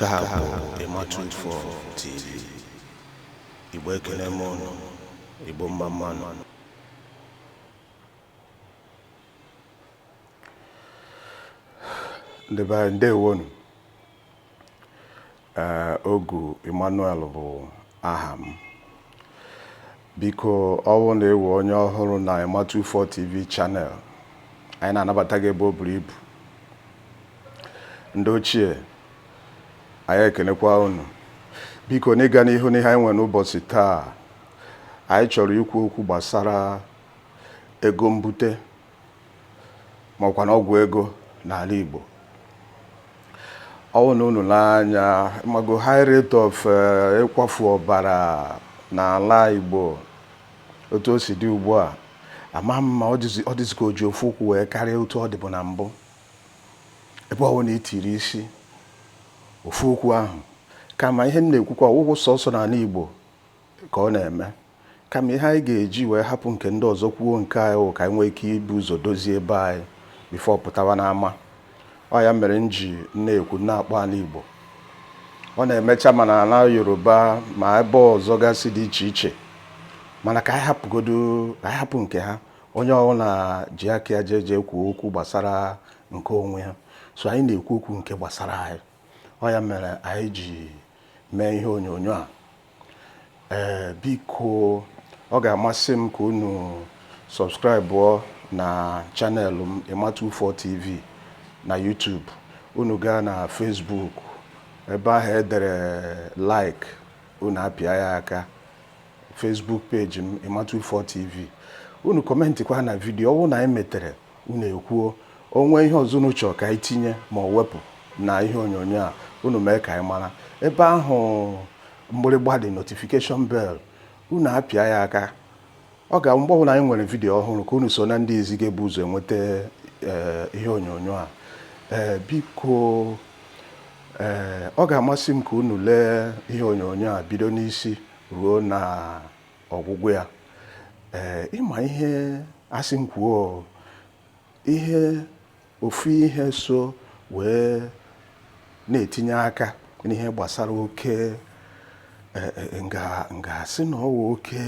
Nke a bụ Emma24 TV. Igbo ekele m ụnụ. Igbo mma mma nụ. Ndị be anyị ndewonu. Ee, Ogu Emmanuel bụ aha m. Biko ọwụ na ị wụ onye ọhụrụ na Emma24 TV channel, anyị na-anabata gị ebe o buru ibu. Ndị ochie, anyị ekenekwa unu. Biko n'ịga n'ihu n'ihe anyị nwere n'ụbọchị taa, anyị chọrọ ikwu okwu gbasara ego mbute ma ọ kwa na ọgwụ ego n'ala Igbo ọwụ na unu lee anya mago high rate of eh, ịkwafu ọbara n'ala Igbo otu o si dị ugbu a ama m ma ọ dịzi ka o ji ofu ụkwụ wee karịa otu ọ dịbụ na mbụ ebe ọwụ na itiri isi ofu okwu ahụ kama ihe m na-ekwukwa ọ wụghị sọsọ n'ala Igbo ka ọ na-eme kama ihe anyị ga-eji wee hapụ nke ndị ọzọ kwuo nke anyị wụ ka anyị nwee ike ibu ụzọ dozie ebe anyị before apụtawa n'ama ọ ya mere m ji na-ekwu na-akpọ ala Igbo ọ na-emecha ma n'ala Yoruba ma ebe ọzọ gasị dị iche iche mana ka anyị hapụgodo ka anyị hapụ nke ha onye ọbụla ji aka ya jee jee kwuo okwu gbasara nke onwe ya so anyị na-ekwu okwu nke gbasara anyị ọ ya mere anyị ji mee ihe onyonyo a ee biko ọ ga-amasị m ka unu subscribe na channel m Emma24 TV na YouTube unu gaa na Facebook ebe ahụ edere like unu apịa ya aka Facebook page m Emma24 TV unu kọmentịkwa na vidiyo ọwụ na anyị metere Unu ekwuo, o nwee ihe ọzọ unu chọrọ ka anyị tinye ma ọ wepụ na ihe onyonyo a, unu mee ka anyị mara. Ebe ahụ mgbịrịgba dị, notification bell, unu apịa ya aka. Ọ ga-abụ mgbe ọbụla anyị nwere vidiyo ọhụrụ ka unu so na ndị izi ga-ebu ụzọ enweta ee, ihe onyonyo a. Ee, biko ee, ọ ga-amasị m ka unu lee ihe onyonyo a bido n'isi ruo na ọgwụgwụ ya ee ị ma ihe a sị m kwuo ihe ofu ihe so wee na-etinye aka n'ihe gbasara oke e, e, m ga m ga-asị na ọwụ oke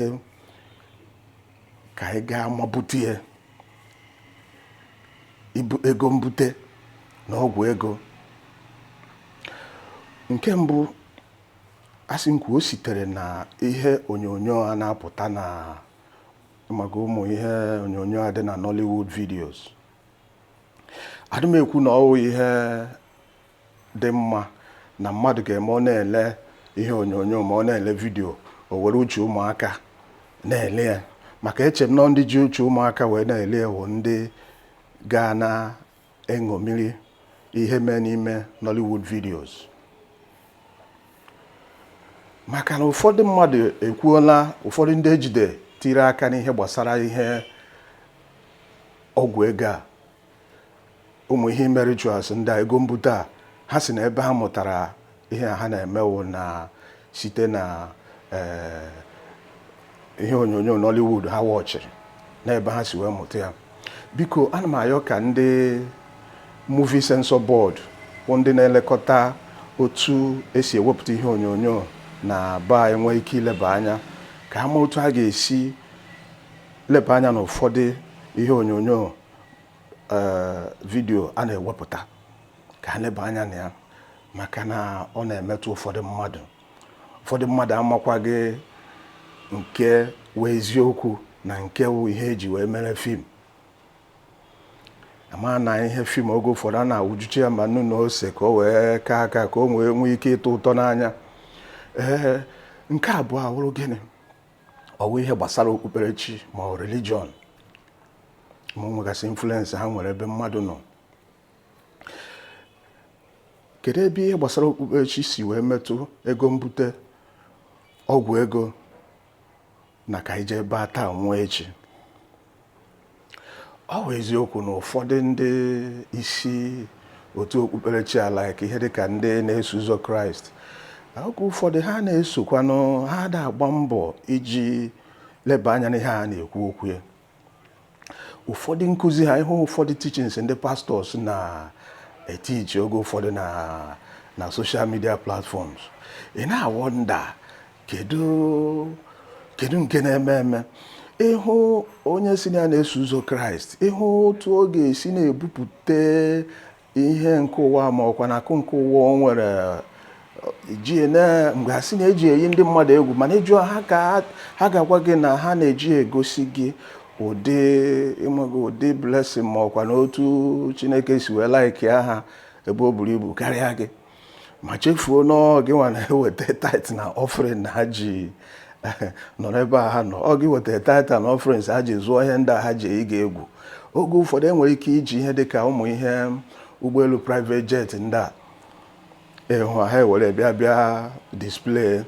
ka anyị gaa ma bute ya bụ ego mbute na ọgwụ ego nke mbụ A sị m kwuo, o sitere na ihe onyonyo a na-apụta na maka ụmụ ihe onyonyo a dị na Nollywood videos. Adị m ekwu na ọ wụ ihe dị mma na mmadụ ga-eme ọ na-ele ihe onyonyo ma ọ na-ele vidio o were uche ụmụaka na-ele ya maka eche m na ndị ji uche ụmụaka wee na-ele ya wụ ndị ga na eṅomiri ihe mee n'ime Nollywood videos maka na ụfọdụ mmadụ ekwuola ụfọdụ ndị ejide tiri aka n'ihe gbasara ihe ọgwụ ego a ụmụ ihe ime rituals ndị a ego mbute a ha sị na ebe ha mụtara ihe ha na-eme wụ na site na ee, ihe onyonyo Nollywood ha wọchịrị n'ebe ha si wee mụta ya biko ana m ayọ ka ndị movie censor board bụ ndị na-elekọta otu esi ewepụta ihe onyonyo na ba enwe ike ileba anya ka ha ma otu ha ga-esi leba anya n'ụfọdụ ihe onyonyo ee, vidio a na-ewepụta ka ha leba anya na ya maka na ọ na-emetụ ụfọdụ mmadụ ụfọdụ mmadụ amakwaghị nke wụ eziokwu na nke wụ ihe eji wee mere fim ama na ihe fim oge ụfọdụ a na-awụjuchi ya ma nnu na ose ka o wee ka aka ka o wee nwee ike ịtọ ụtọ n'anya ee nke abụọ awụrụ gịnị ọ wụ ihe gbasara okpukperechi ma ọ religion ma o nwegasị influence ha nwere ebe mmadụ nọ kedu ebe ihe gbasara okpukperechi si wee metụ ego mbute ọgwụ ego na ka ije ebe a taa nwụọ echi ọ bụ eziokwu na ụfọdụ ndị isi otu okpukperechi ala ka ihe dịka ndị na-eso ụzọ kraịst oge ụfọdụ ha na-esokwanụ ha da agba mbọ iji leba anya n'ihe a na-ekwu okwu ya ụfọdụ nkụzi ha ị hụ ụfọdụ teachings ndị pastors na-etichi oge ụfọdụ na na social media platforms ị na-awọnda kedu nke na-eme eme ị hụ onye sị na ya na-eso ụzọ kraịst ị hụ otu ọ ga-esi na-ebupụta ihe nke ụwa ma ọkwa na akụ nke ụwa o nwere ji mgbe a sị na eji eyi ndị mmadụ egwu mana ị jụọ ha ga-agwa gị na ha na-eji egosi gị ụdị ụdị blessing ma ọkwa na otu Chineke si wee laikia ha ebe o buru ibu karịa gị ma chefuo na ọ gị nwa na-eweta tithe na offering na ha ji nọrọ ebe a ha nọ ọ gị weta tithe na offering ha ji zụọ ihe ndị a ha ji eyi gị egwu oge ụfọdụ enwere ike iji ihe dị ka ụmụ ihe ụgbọelu private jet ndị a ị hụ ha ewere bịa bịa display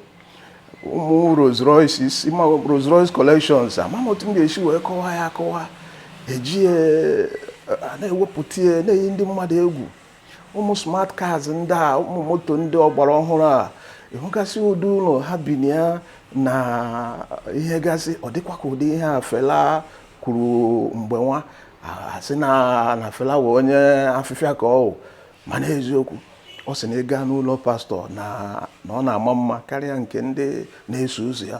ụmụ Rolls Royce isi ma Rolls Royce collections amaghị otu m ga-esi wee kọwaa ya akọwa eji ya a na-ewepụta ya na-eyi ndị mmadụ egwu ụmụ smart cars ndị a ụmụ moto ndị ọgbara ọhụrụ a ị hụgasị ụdị ụlọ ha bi na ya na ihe gasị ọ dịkwa ka ụdị ihe a Fela kwuru mgbe nwa a sị na Fela wụ onye afịfịa ka ọ wụ mana eziokwu ọ sị na ị gaa n'ụlọ pastor na ọ na-ama mma karịa nke ndị na-eso ụzọ ya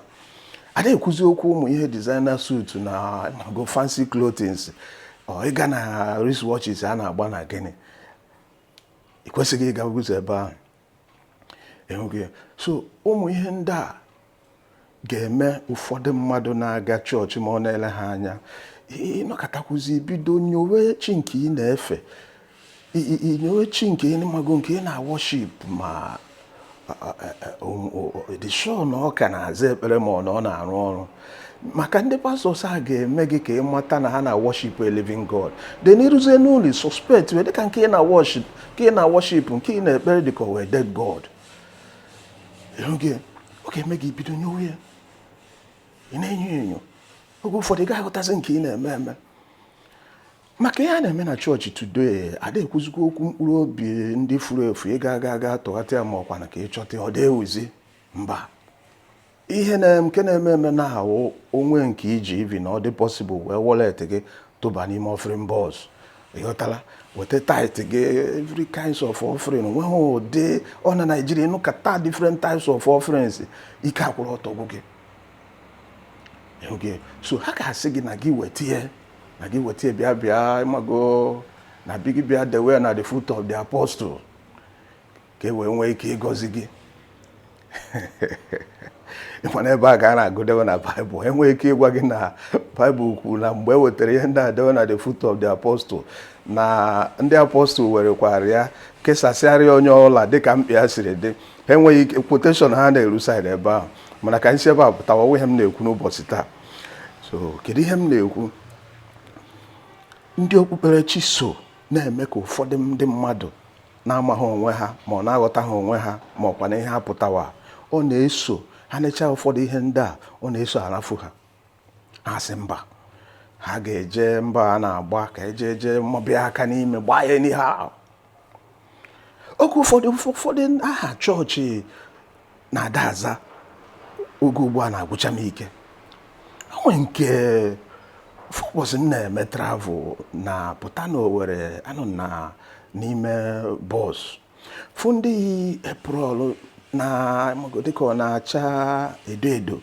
ada ekwuzi okwu ụmụ ihe designer suit na go fancy clothings ị gaa na wristwatches a na-agba na gịnị ị kwesịghị ịga ụzọ ebe ahụ. so ụmụ ihe ndị a ga-eme ụfọdụ mmadụ na-aga chọọchị ma ọ na-ele ha anya ị nọkatakwuzi bido nyowe chi nke ị na-efe i nyowe chi nke ị mago nke ị na-aworship ma dị sure na ọ ka na-aza ekpere ma ọ na ọ na-arụ ọrụ maka ndị pastors a ga-eme gị ka ị mata na ha na-aworship a living God then i ruzie n'ụlọ suspect wee dịka nke ị na-aworship nke ị na-ekpere dịka ọ wụ a dead God ọ ga-eme gị bido nyowe ya ị na-enyo enyo oge ụfọdụ ị gaghị aghọtazi nke ị na-eme eme maka ihe a na-eme na chọọchị today ada ekwuzikwa okwu mkpụrụ obi ndị furu efu ịga aga aga tọghata ya ma ọkwa na ka ị chọta ọ dị ewuzi mba ihe nke na-eme eme na ahụ o nwee ike iji even ọ dị possible wee wallet gị tụba n'ime offering box ị ghọtala weta tithe gị every kinds of offering nweghị ụdị ọ na Nigeria ị nụkata different types of offerings ike akwụrụ ọtọ gwụ gị so ha ga-asị gị na gị weta ihe na gị weta ihe bịa bịa ị mago na bi gị bịa dewe ya na the foot of the apostle ka e wee nwee ike ịgọzi gị ị ma na ebe a ka a na-agụdewe na baịbụl enwee ike ịgwa gị na baịbụl kwuru na mgbe e wetara ihe ndị a dewe na the foot of the apostle na ndị apostle werekwara ya kesasịara ya onye ọla dịka mkpa ya siri dị ha enweghị ike quotation ha na-eru side ebe ahụ mana ka anyị si ebe a pụtawa ọ wụ ihe m na-ekwu n'ụbọchị taa so kedu ihe m na-ekwu ndị okpukperechi so na-eme ka ụfọdụ ndị mmadụ na-amaghị onwe ha ma ọ na-aghọtaghị onwe ha ma ọkwa na ihe ha pụtawa ọ na-eso ha necha ụfọdụ ihe ndị a ọ na-eso arafu ha ha sị mba ha ga-eje mba a na-agba aka eje eje ma bịa aka n'ime gbaa ya n'ihe ahụ oge ụfọdụ ụfọdụ aha chọọchị na-ada aza oge ugbu a na-agwụcha m ike o nwe nke m fụ ụbọchị m na-eme travel na-apụta na Owerri anọ na n'ime bọs fụ ndị yi apron a dịka ọ na-acha edo edo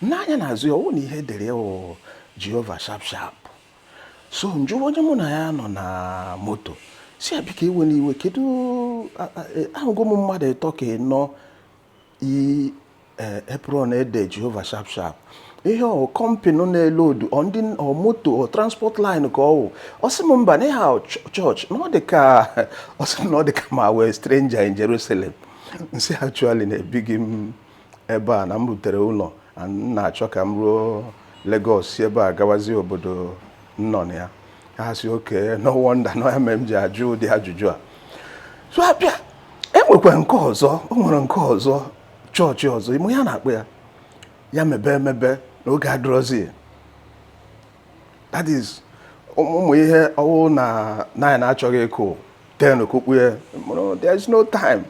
n'anya n'azụ ya ọ wụ na ihe e dere wụ Jehova sharp sharp so m jụọ onye mụ na ya nọ na moto sị ya biko ewena iwe kedu e, ahụgo m mmadụ ịtọ ka ịnọ yi e, apron e dere jehova sharp sharp ihe ọ kọmpịnị na-elodu ndị moto ọ transport line ka ọ wụ ọ sị m mba na aha chọọchị na ọ dị ka ọ sị na ọ dị ka m wụ stranger in Jerusalem m sị actually na ebighị m ebe a na m rutere ụlọ na m na-achọ ka m ruo Lagos si ebe a gawazie obodo m nọ na ya ha sị okay no wonder na ya mere m ji ajụ ụdị ajụjụ a so a bịa e nwekwara nke ọzọ o nwere nke ọzọ chọọchị ọzọ ị ma ihe a na-akpọ ya ya mebe emebe na oge adịrọzi that is ụmụ ụmụ ihe ọ wụ na naanị na-achọghị ikwute n'okwu Bekee ya wụrụ there is no time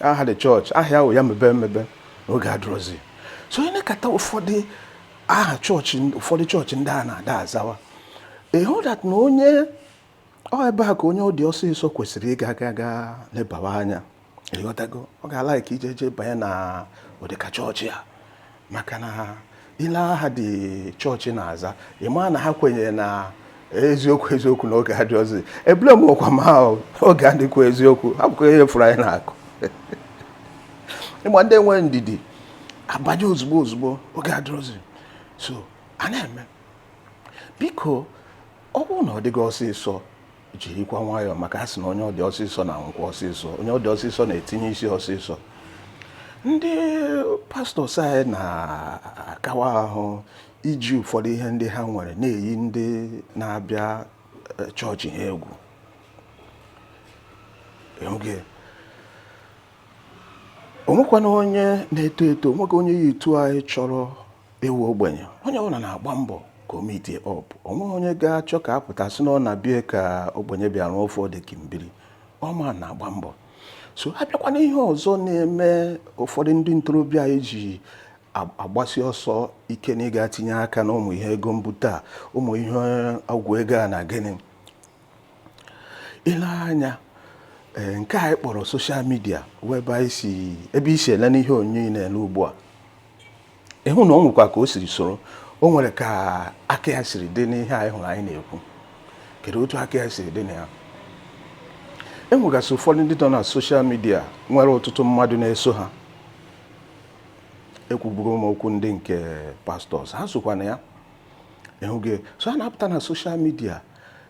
aha the chọọchị aha ya wụ ya mebe emebe na oge adịrọzi so i nekata ụfọdụ aha chọọchị ụfọdụ chọọchị ndị a na-ada azawa ị hụ that na onye ọ ebe a ka onye ọ dị ọsịsọ kwesịrị ịga aga gaa lebawa anya ị ghọtago ọ ga-alike ije eje banye na ụdịka chọọchị a maka na i lee aha the chọọchị na-aza ị ma na ha kwenyere na eziokwu eziokwu na oge adịrọzi ebule m ọkwa ma oge adịkwa eziokwu abụkwa ihe fụrụ anyị na-akụ ịgba ndị nwe ndidi abanye ozugbo ozugbo oge adịrọzi so a na-eme biko ọ bụrụ na ọ dị gị ọsịsọ jirikwa nwayọọ maka a sị na onye ọ dị ọsịsọ na-anwụkwa ọsịsọ onye ọ dị ọsịsọ na-etinye isi ọsịsọ ndị pastors anyị na-akawa ahụ iji ụfọdụ ihe ndị ha nwere na-eyi ndị na-abịa eh, chọọchị ha egwu oge o nwekwana onye na-eto eto o nwekwa onye ya etu anyị chọrọ Ịwụ ogbenye, onye ọbụla na-agba mbọ ka o meetie up. O nweghị onye ga-achọ ka a pụta sị na ọ na bie ka ogbenye bịaruo ofe ode kimbiri. Ọma na-agba mbọ. So a bịakwa n'ihe ọzọ na-eme ụfọdụ ndị ntorobịa anyị ji agbasi ọsọ ike na ịga tinye aka n'ụmụ ihe ego mbute a, ụmụ ihe ọgwụ ego a na gịnị. ile anya eh, nke anyị kpọrọ soshal midia wụ ebe i si ebe i si ele n'ihe onyonyo ị na-ele ugbu a ị hụ na o nwekwa ka o siri soro o nwere ka aka ya siri dị n'ihe anyị hụrụ anyị na-ekwu kedu otu aka ya siri dị na ya e nwegasị ụfọdụ ndị nọ na soshal midia nwere ọtụtụ mmadụ na-eso ha ekwubugo m okwu ndị nke pastọs ha sokwa na ya ị hụgo so ha na-apụta na soshal midia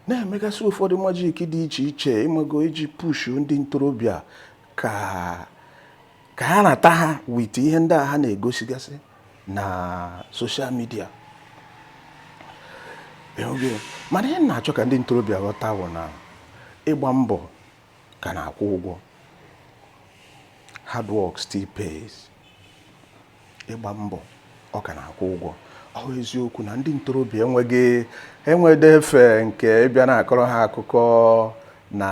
na-emegasị ụfọdụ majik dị iche iche ị mago iji pushu ndị ntorobịa ka ka ha rata ha wit ihe ndị a ha na-egosigasị na soshal midia mana ihe m na-achọ ka ndị ntorobịa ghọta bụ na ịgba mbọ ka na-akwụ ụgwọ hard work still pays ịgba mbọ ọ ka na-akwụ ụgwọ ọ bụ eziokwu na ndị ntorobịa enweghị enwede efe nke ịbịa na-akọrọ ha akụkọ na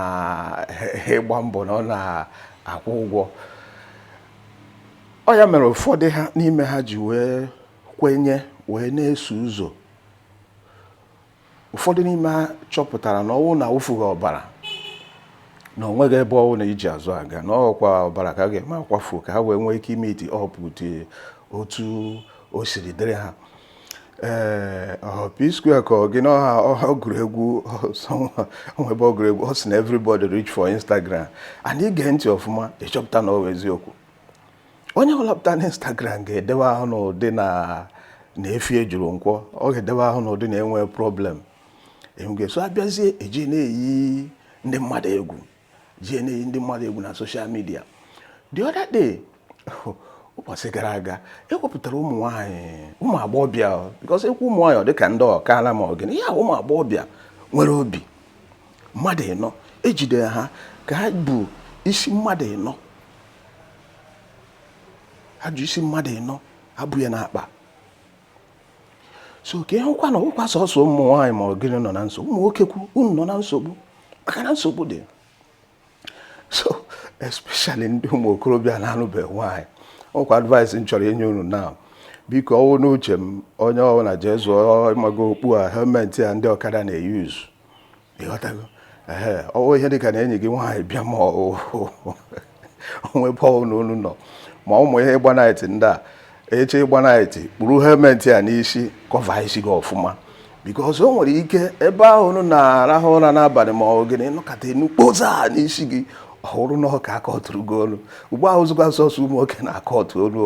ịgba mbọ na ọ na-akwụ ụgwọ ọ ya mere ụfọdụ ha n'ime ha ji wee kwenye wee na-eso ụzọ ụfọdụ n'ime ha chọpụtara na ọ wụ na a wụfughị ọbara na o nweghị ebe ọwụna e ji azụ aga na ọ wụkwa ọbara ka ha ga-eme akwafu ka ha wee nwee ike imiti ọpụ dị otu o siri dịrị ha ee ọ wụ P-Square ka ọ gịnị ha ọ gụrụ egwu ebe ọ gụrụ egwu ọ sị na everybody rich for Instagram and i gee ntị ọfụma ị chọpụta na ọ bụ eziokwu onye ọbụla pụta na Instagram ga-edewe ahụ n'ụdị na efi juru Nkwọ ọ ga-edewe ahụ n'ụdị na enweghị problem enwege so a bịazie eji na-eyi ndị mmadụ egwu jie na-eyi ndị mmadụ egwu na soshal midia the other day ụbọchị gara aga e wepụtara ụmụ nwaanyị ụmụ agbọghọbịa bikọs e kwuo ụmụ nwaanyị ọ dịka ndị ọkaala ma ọ gịnị ya ụmụ agbọghọbịa nwere obi mmadụ ịnọ e jide ha ka ha bu isi mmadụ ịnọ ha ji isi mmadụ ịnọ ha bu ya n'akpa so ka ị hụkwa na ọ wụghịkwa sọsọ ụmụ nwaanyị ma ọ gịnị nọ na nsogbu ụmụ nwoke kwu unu nọ na nsogbu maka na nsogbu dị so especially ndị ụmụ okorobịa na-anụbeghị nwaanyị ọkwa advice m chọrọ inye unu na biko ọ wụ n'uche m onye ọwụna jee zụọ ị mago okpu a helmenti a ndị ọkada na-eyuzu ị ghọtago ehe ọ wụ ihe dịka na enyi gị nwaanyị bịa ma o nwee ebe ọwụna unu nọ ma ụmụ ihe ịgba naịtị ndị a i jee ịgba naịtị kpuru helmet a n'isi kọva isi gị ọfụma bikos o nwere ike ebe ahụ unu na-arahụ ụra n'abalị ma ọ gịnị nọkata enu kpoza n'isi gị ọ wụrụ na ọ ka akọtụrụ gị olu ugbu a ọ wụzikwa sọsọ ụmụ nwoke na-akọtụ olu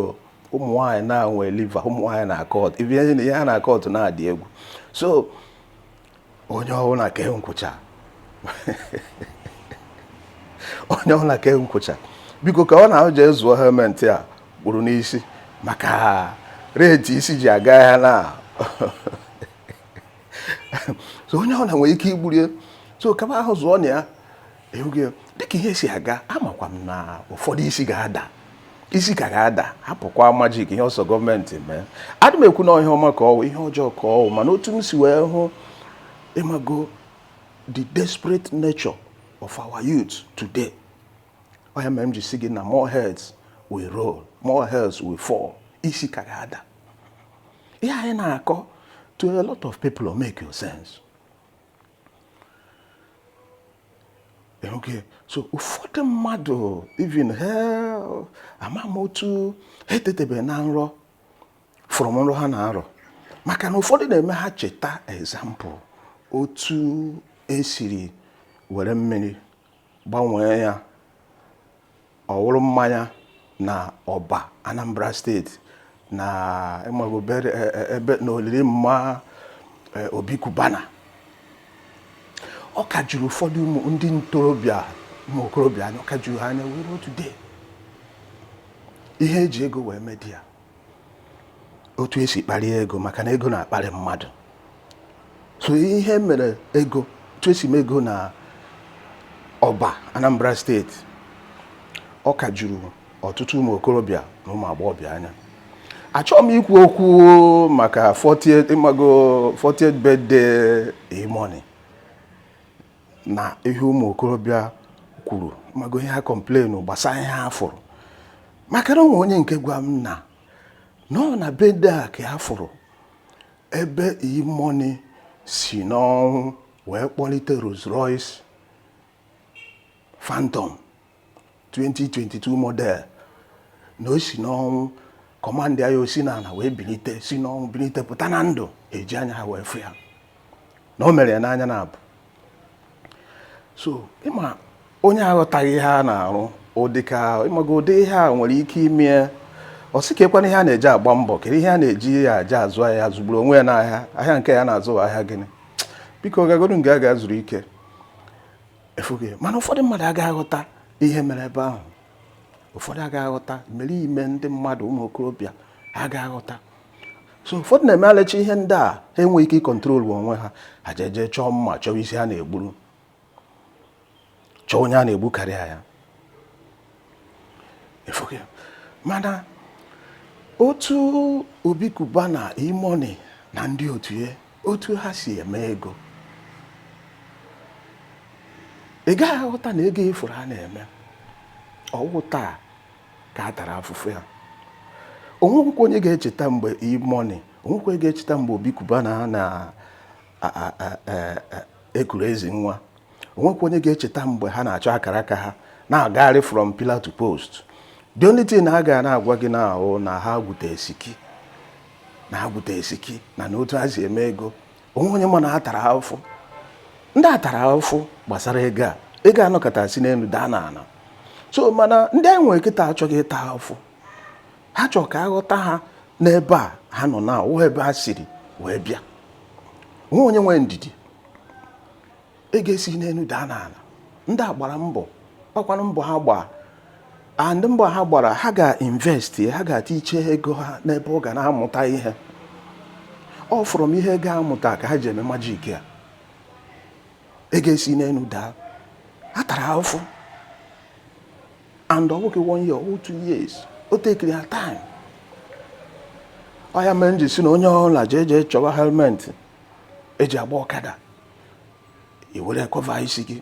ụmụ nwaanyị na-enwe liva ụmụ nwaanyị na-akọtụ ibi ihe na ihe ha na-akọtụ na-adị egwu so onye ọbụla kee nkwụcha onye ọbụla kee nkwụcha biko ka ọ na ahụ jee zụọ helmet a kpuru n'isi maka rate isi ji aga ya na so onye ọbụla nwere ike igburu ya so kama ahụ zụọ na ya ịhụgo ya dịka ihe si aga amakwa m na ụfọdụ isi ga-ada isi ka ga-ada hapụkwa majik ihe ọ sọ gọọmenti mee adị m ekwu na ihe ọma ka ọwụ ihe ọjọọ ka ọwụ mana otu m si wee hụ ịmago the desperate nature of our youth today ọ ya mere m ji sị gị na more heads will roll more heads will fall isi ka ga-ada ihe anyị na-akọ to a lot of people will make your sense okay so ụfọdụ mmadụ even ha ama m otu ha etetebeghị na nrọ from nrọ ha na-arọ maka na ụfọdụ na-eme ha cheta example otu esiri were mmiri gbanwee ya ọ wụrụ mmanya na ọba anambra steeti na ịmago bere- e- e- ebe na olili mma e, obi Cubana ọ ka juru ụfọdụ ụmụ ndị ntorobịa ụmụ okorobịa anya ọ ka juru ha anya wee ruo today ihe eji ego wee medi ya otu esi kparịa ego maka na ego na-akparị mmadụ so ihe e mere ego otu esi mee ego na ọba Anambra steeti ọ ka juru ọtụtụ ụmụ okorobịa na ụmụ agbọghọbịa anya achọghị m ikwu okwu maka 40th ịmago 40th birthday E-Money na ihe ụmụ okorobịa kwuru ịmago ihe ha complain gbasara ihe ha fụrụ maka na onwe onye nke gwa m na ọ na birthday a ka ha fụrụ ebe E-Money si n'ọnwụ wee kpọlite Rolls Royce Phantom 2022 model na o si n'ọnwụ kọmandị ya osi n'ala wee bilite si n'ọnwụ bilite pụta na ndụ eji anya ha wee fụ ya na o mere ya n'anya na abụọ so ịma onye aghọtaghị ihe a na-arụ ụdị ka ịmago ụdị ihe a nwere ike ime ọ sị kekwanụ ihe a na-eji agba mbọ kedu ihe a na-eji eje azụ ahịa zụgburu onwe ya n'ahịa ahịa nke ya na-azụ ahịa gịnị biko gagodu nga ga zuru ike ịfụgo mana ụfọdụ mmadụ agaghị aghọta ihe mere ebe ahụ ụfọdụ agaghị aghọta mere ime ndị mmadụ ụmụ okorobịa agaghị aghọta so ụfọdụ na-eme ha lechaa ihe ndị a ha enweghị ike ịkọntrolu onwe ha ha ejeje chọọ mma chọwa isi ha na-egburu chọọ onye ha na-egbukarịa ya mana otu Obi Cubana E-Money na ndị otu ya otu ha si eme ego ị gaghị aghọta na ego ị fụrụ ha na-eme ọ wụ taa ka a tara afụfụ ya o nwekwa onye ga-echeta mgbe E-Money o nwekwa onye ga-echeta mgbe Obi Cubana na e, e, e, ekuru ezi nwa o nwekwa onye ga-echeta mgbe ha na-achọ akara aka ha na-agagharị from pillar to post the only thing ha ga na-agwa gị na-ahụ na ha gwute esiki na ha gwute esiki na na otu ha si eme ego o nwe onye ma na ha tara afụfụ ndị a tara afụfụ gbasara ego a ego anọkata si n'elu daa n'ala so mana ndị anyị nwere kịta achọghị ịta afụfụ ha chọrọ ka a ghọta ha n'ebe a ha nọ na ụwa ebe ha siri wee bịa o nwe onye nwee ndidi ego esi n'elu daa n'ala ndị a gbara mbọ ọ kwanụ mbọ ha gbaa and mbọ ha gbara ha ga-invest ha ga-etiche ego ha n'ebe ọ ga na-amụta ihe ọ from ihe ga-amụta ka ha ji eme magic a ego esi n'elu daa ha tara afụfụ and ọ bụghị one year or two years o tekiri ha time ọ ya mere m ji sị na onye ọbụla jee jee chọwa helmet e ji agba ọkada i were cover isi gị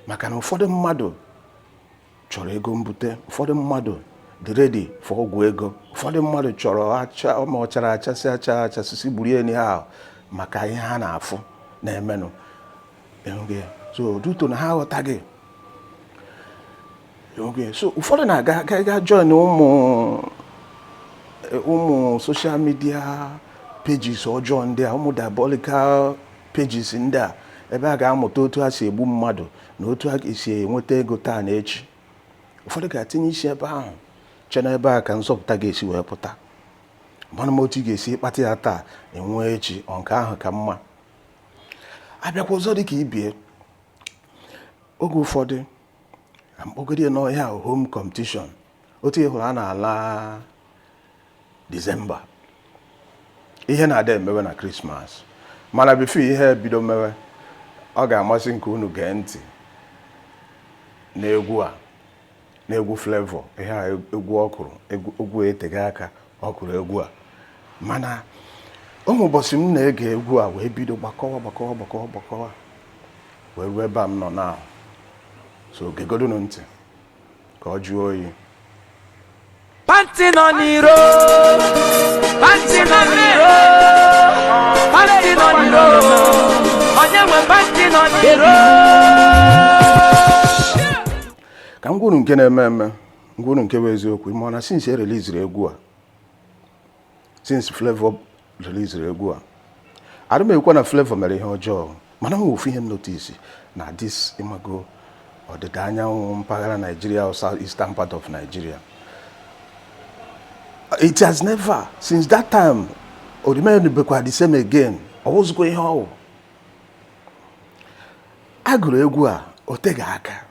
maka na ụfọdụ mmadụ chọrọ ego mbute ụfọdụ mmadụ dị ready for ọgwụ ego ụfọdụ mmadụ chọrọ acha ma ọ chara achasị acha achasịsị gburu enyi ha maka ihe ha na-afụ na-emenụ so due to na ha aghọtaghị oge so ụfọdụ na-aga ga- ga join ụmụ ụmụ social media pages ọjọọ ndị a ụmụ diabolical pages ndị a ebe a ga-amụta otu a si egbu mmadụ na otu a ga-esi enweta ego taa na echi ụfọdụ ga-atinye isi ebe ahụ chee na ebe a ka nzọpụta ga-esi wee pụta mana m otu ị ga-esi kpata ya taa enwee echi ọ nke ahụ ka mma abịakwa ọzọ dị ka ibie oge ụfọdụ ka m kpọgodi ya nụ ihe a home competition otu ị hụrụ a na-ala December ihe na-adị emewe na Christmas mana before ihe bido mewe ọ ga-amasị m ka unu gee ntị n'egwu a n'egwu Flavour ihe a egwu ọ kụrụ egwu etega aka ọ gụrụ egwu a mana o nwere ụbọchị m na-ege egwu a wee bido gbakọwa gbakọwa gbakọwa gbakọwa wee ruo ebe a m nọ na so gegodunu ntị ka ọ jụọ oyi Panti nọ n'iro, panti nọ n'iro, panti nọ n'iro, onye nwe panti nọ n'iro. ka m gwa unu nke na-eme eme m gwa unu nke bụ eziokwu ịma na since e reliziri egwu a since Flavour reliziri egwu a adị m ekwu na Flavour mere ihe ọjọọ mana o nwe ofu ihe m notice na this ịmago ọdịda anyanwụ mpaghara Nigeria or south eastern part of Nigeria it has never since that time o remainubekwa the same again ọ wụzịkwa ihe ọ wụ a gụrụ egwu a o teghị aka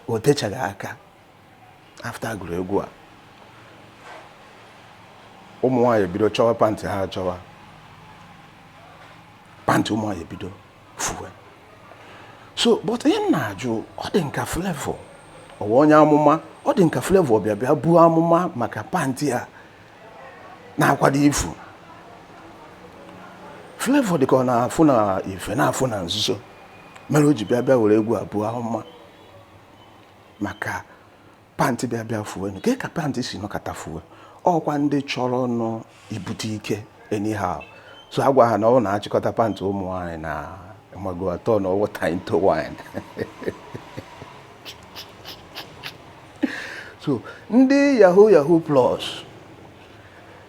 o techaghị aka after a gụrụ egwu a ụmụ nwaanyị ebido chọwa pantị ha achọwa pantị ụmụ nwaanyị ebido fuwe so but ihe m na-ajụ ọ dị nka Flavour ọ wụ onye amụma ọ dị nka Flavour bịa bịa buo amụma maka pantị a na-akwado ifu Flavour dịka ọ na-afụ na ife na-afụ na nzuzo mere o ji bịa bịa were egwu a buo amụma maka pantị bịa bịa fuwe nke ka pantị si nọkata fuwe ọkwa ndị chọrọ nụ ibute ike anyhow so a gwa ha na ọ wụ na achịkọta pantị ụmụ nwaanyị na ọ ga-atọnụ water into wine so ndị yahoo yahoo plus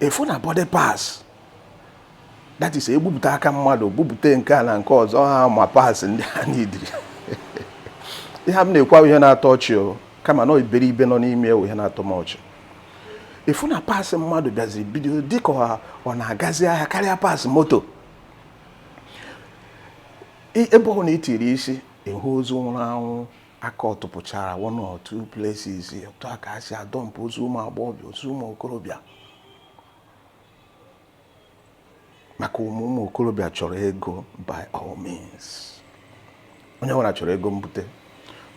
ị fụ na body parts that is egbupụta aka mmadụ gbupụta nke a na nke ọzọ human parts ndị ha n'idiri ihe m na-ekwu awụ ihe na-atọ ọchị o kama na iberibe nọ n'ime ya wụ ihe na-atọ m ọchị ị fụ na parts mmadụ bịaziri bido dịka ọ na-agazi ahịa karịa parts moto ebe ọwụna i tiri isi ị hụ ozu nwụrụ anwụ aka ọtụpụchara one or two places otu a ka a si adọmpụ ozu ụmụ agbọghọbịa ozu ụmụ okorobịa maka ụmụ ụmụ okorobịa chọrọ ego by all means onye ọbụla chọrọ ego mbute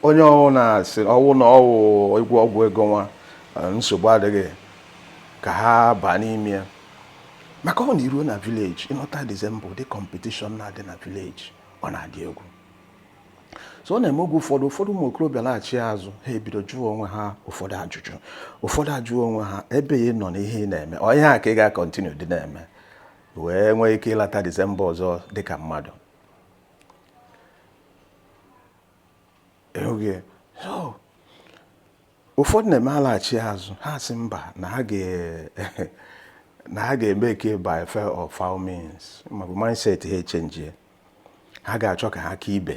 onye ọwụna sị ọ wụ na ọ wụ ịgwọ ọgwụ ego nwa eh, nsogbu adịghị ka ha baa n'ime ya maka ọ wụ na iruo na village ịnọta December ụdị competition na-adị na village ọ na-adị egwu so ọ na-eme oge ụfọdụ ụfọdụ ụmụ okorobịa laghachi azụ ha ebido jụọ onwe ha ụfọdụ ajụjụ ụfọdụ ajụọ onwe ha ebe ị nọ n'ihe ị na-eme ọ ihe a ka ị ga-akọntinu dị na-eme wee nwee ike ịlata December ọzọ dịka mmadụ ụfọdụ na-eme alaghachi azụ ha sị mba na ha ga na ha ga-emake it by fair or foul means maọbụ mindset ha echenjie ha ga-achọ ka ha ka ibe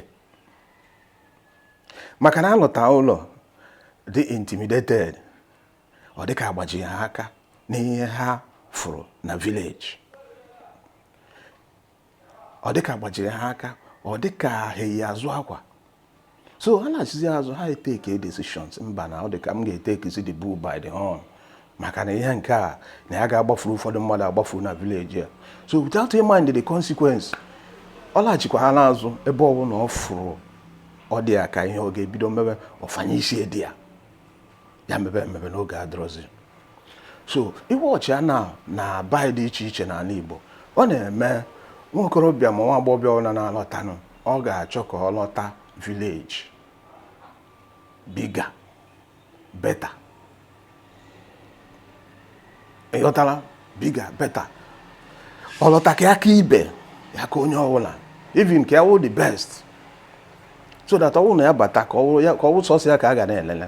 maka na alọta ụlọ dị intimidated ọ dịka agbajiri ha aka n'ihe ha fụrụ na village ọ dịka agbajiri ha aka ọ dịka ha eyi azụ akwa so ha lachizi azụ ha eteke decisions mba na ọ dị ka m ga-etekizi the bull by the horn maka na ihe nke a na ya ga-agbafuru ụfọdụ mmadụ agbafuru na village a so without a mind the consequence ọ laghachikwa ha n'azụ ebe ọ bụla ọ fụrụ ọ dị ya ka ihe ọ ga-ebido mebe ọ fanye isi there ya mebe emebe na oge adịrọzi so iwe ọchị a na n'ebe dị iche iche n'ala Igbo ọ na-eme nwa okorobịa ma nwa agbọghọbịa ọbụla na-alọtanụ ọ ga-achọ ka ọ lọta village bigger better ị ghọtala bigger better ọ lọta ka ya ka ibe ya ka onye ọbụla even ka ya wụ the best so that ọwụ na ya bata ka ọwụ sọsọ ya ka a ga na-elele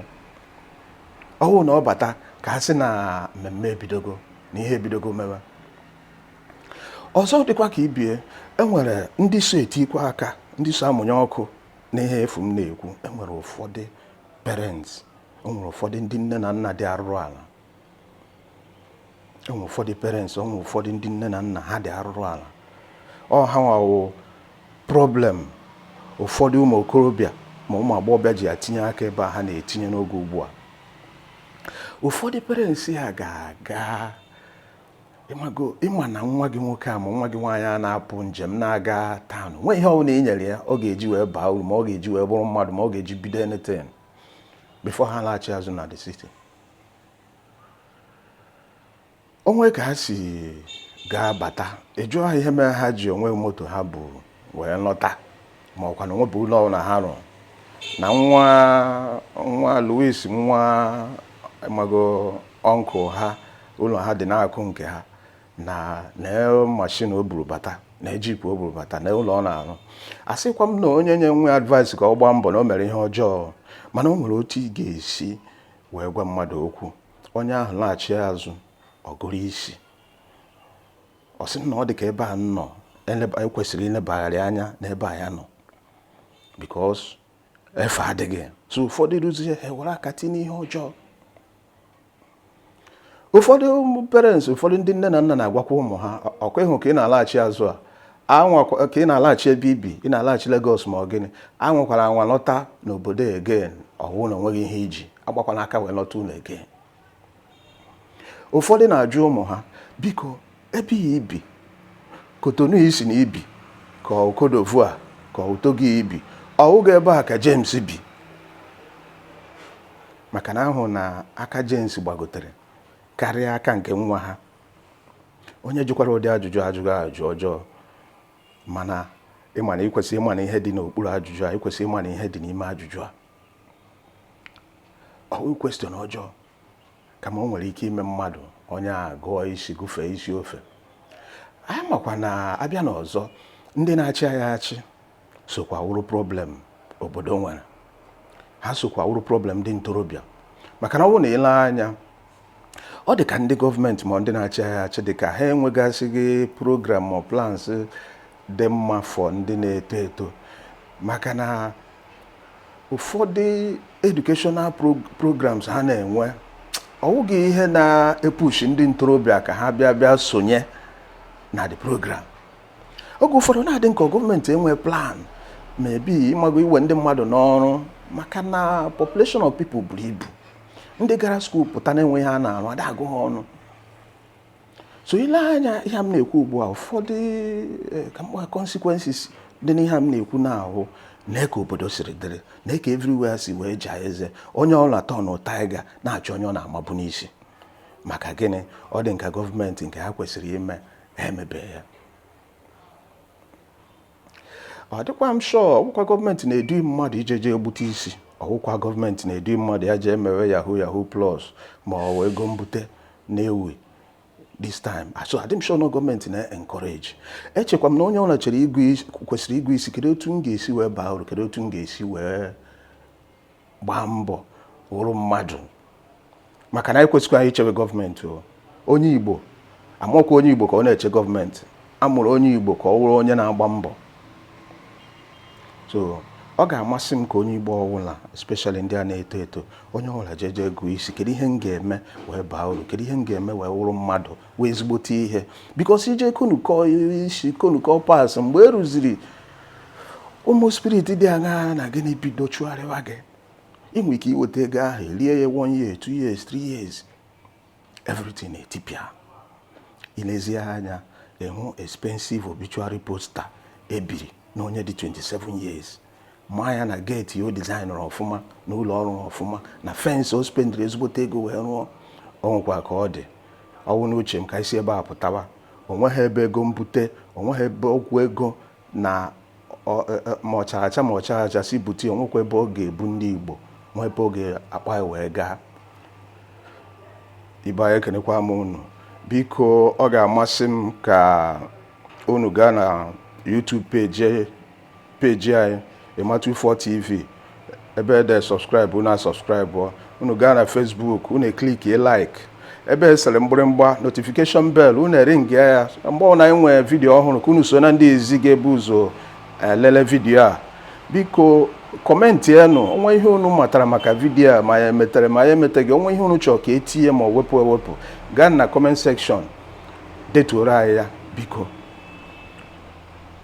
ọwụ na ọ bata ka a sị na mmemme ebidogo na ihe ebidogo mewe ọzọ dịkwa ka ibie enwere ndị so etikwa aka ndị so amụnye ọkụ na ihe afụ m na-ekwu enwere ụfọdụ parents o nwere ụfọdụ ndị nne na nna dị arụrụ ala enwere ụfọdụ parents enwere ụfọdụ ndị nne na nna ha dị arụrụ ala ọ ha nwa wụ problem ụfọdụ ụmụ okorobịa ma ụmụ agbọghọbịa ji etinye aka ebe a ha na-etinye n'oge ugbu a ụfọdụ parents ha ga-aga ị ma na nwa gị nwoke a ma nwa gị nwaanyị a na-apụ njem na-aga town nwe ihe ọbụla i nyere ya ọ ga-eji wee baa uru ma ọ ga-eji wee bụrụ mmadụ ma ọ ga-eji bido anything before ha laghachi azụ na the city o nwe ka ha si ga-abata ị jụọ ha ihe mere ha ji o nwe moto ha bu wee lọta ma ọkwa na o nwebu ụlọ ọbụla ha rụrụ na nwa nwa Louis nwa mago uncle ha ụlọ ha dị n'akụkụ nke ha na na mashin o buru bata na jip o buru bata na ụlọ ọ na-arụ asịkwa m na onye nye nwa advice ka ọ gbaa mbọ na o mere ihe ọjọọ mana o nwere otu ị ga-esi wee gwa mmadụ okwu onye ahụ laghachi azụ ọ gụrụ isi ọ sị na ọ dị ka ebe a nọ ekwesịrị ilebagharị anya n'ebe a ya nọ because efe adịghị so ụfọdụ duzie ha were aka tinye ihe ọjọọ ụfọdụ parents ụfọdụ ndị nne na nna na-agwakwa ụmụ ha ọ kwa ị hụ ka ị na-alaghachi azụ a ka ị na-alaghachi ebe i bi ị na-alaghachi Lagos ma ọ gịnị anwakwara anwa lọta n'obodo again ọ wụ na o nweghị ihe i ji agbakwana aka wee lọta ụlọ again ụfọdụ na-ajụ ụmụ ha biko ebe ya i bi Cotonou ị sị na i bi ka ọ Côte d'Ivoire ka ọ Togo i bi ọ wụghị ebe a ka James bi maka na a hụ na aka James gbagotere karịa aka nke nwa ha onye jụkwara ụdị ajụjụ a ajụghị ajụjụ ọjọọ mana ị ma na i kwesị ịmana ihe dị n'okpuru ajụjụ a i kwesị ịmana ihe dị n'ime ajụjụ a ọ wụ question ọjọọ kama o nwere ike ime mmadụ onye a gụọ isi gụfee isi ofe anyị makwa na a bịa n'ọzọ ndị na-achị anyị achị sokwa wụrụ problem obodo nwere ha sokwa wụrụ problem ndị ntorobịa maka na ọ bụrụ na i lee anya ọ dị ka ndị gọọmenti ma ndị na-achị anyị achị dị ka ha enwegasịghị program ma plans dị mma for ndị na-eto eto maka na ụfọdụ educational programs ha na-enwe ọ wụghị ihe na-epushi ndị ntorobịa ka ha bịa bịa sonye na the program oge ụfọdụ na-adị nke gọọmenti enwe plan maybe ịmago iwe ndị mmadụ n'ọrụ maka na population of people buru ibu ndị gara skuul pụta na-enweghị ihe ha na-arụ a da agụ ha ọnụ so i lee anya ihe m na-ekwu ugbu a ụfọdụ eh, ka mkpa consequences dị n'ihe m na-ekwu na-ahụ na ka obodo siri dịrị na ka everywhere si wee jaa eze onye ọla turn tiger na-achọ onye ọ na-amabu n'isi maka gịnị ọ dị ka gọọmenti nke ha kwesịrị ime ha emebe ya ọ dịkwa m sure ọ wụkwa gọọmenti na-edu mmadụ ijeje gbute isi ọ wụkwa gọọmenti na-edu mmadụ ya jee mewe yahoo yahoo plus ma ọ wụ ego mbute na-ewu this time ah, so adị m sure na gọọmenti na-encourage echekwa m na onye ọbụla chere kwesịrị ịgụ isi kedu otu m ga-esi wee baa uru kedu otu m ga-esi wee gbaa mbọ wụrụ mmadụ maka na anyị kwesịkwa anyị ichewe gọọmenti o onye igbo amụkwa onye igbo ka ọ na-eche gọọmenti a mụrụ onye igbo ka ọ wụrụ onye na-agba mbọ so ọ ga-amasị m ka onye igbo ọwụla especially ndị a na-eto eto onye ọbụla jeje gụọ isi kedu ihe m ga-eme wee baa uru kedu ihe m ga-eme wee wụrụ mmadụ wụ ezigbote ihe because ije konukọ isi konukọ pas mgbe e rụziri ụmụ spirit dị aṅaa na gịnị bido chụgharịwa gị ị nwere ike iweta ego ahụ rie ya one year two years three years everything etipịa i lezie anya ị hụ expensive obituary poster e biri na onye dị 27 years maa ya na gate o designụrụ ọfụma na ụlọ ọ rụrụ ọfụma na fence o spendiri ezigbote ego wee rụọ ọ nwụkwa ka ọ dị ọ wụ n'uche m ka isi ebe a pụtawa o nweghị ebe ego mbute o nweghị ebe okwu ego na e, e, ma ọcharacha ma ọcharacha si bute o nwekwa ebe ọ ga-ebu ndị Igbo nwee ebe ọ ga-akpa wee gaa ibe anyị ekenekwa m unu biko ọ ga-amasị m ka unu gaa na YouTube page page anyị Ịma24 TV ebe ede subscribe unu asubscribe unu gaa na Facebook unu eclickie like ebe e sere mgbịrịmgba notification bell unu eringia ya mgbe ọbụla anyị nwee video ọhụrụ ka unu so na ndị izizi ga-ebu ụzọ elele video a biko commentienụ o nwee ihe unu matara maka video a ma ya emetere ma ya emeteghị o nwee ihe unu chọrọ ka e tinye ma ọ wepụ ewepụ gaa na comment section detuoro anyị ya biko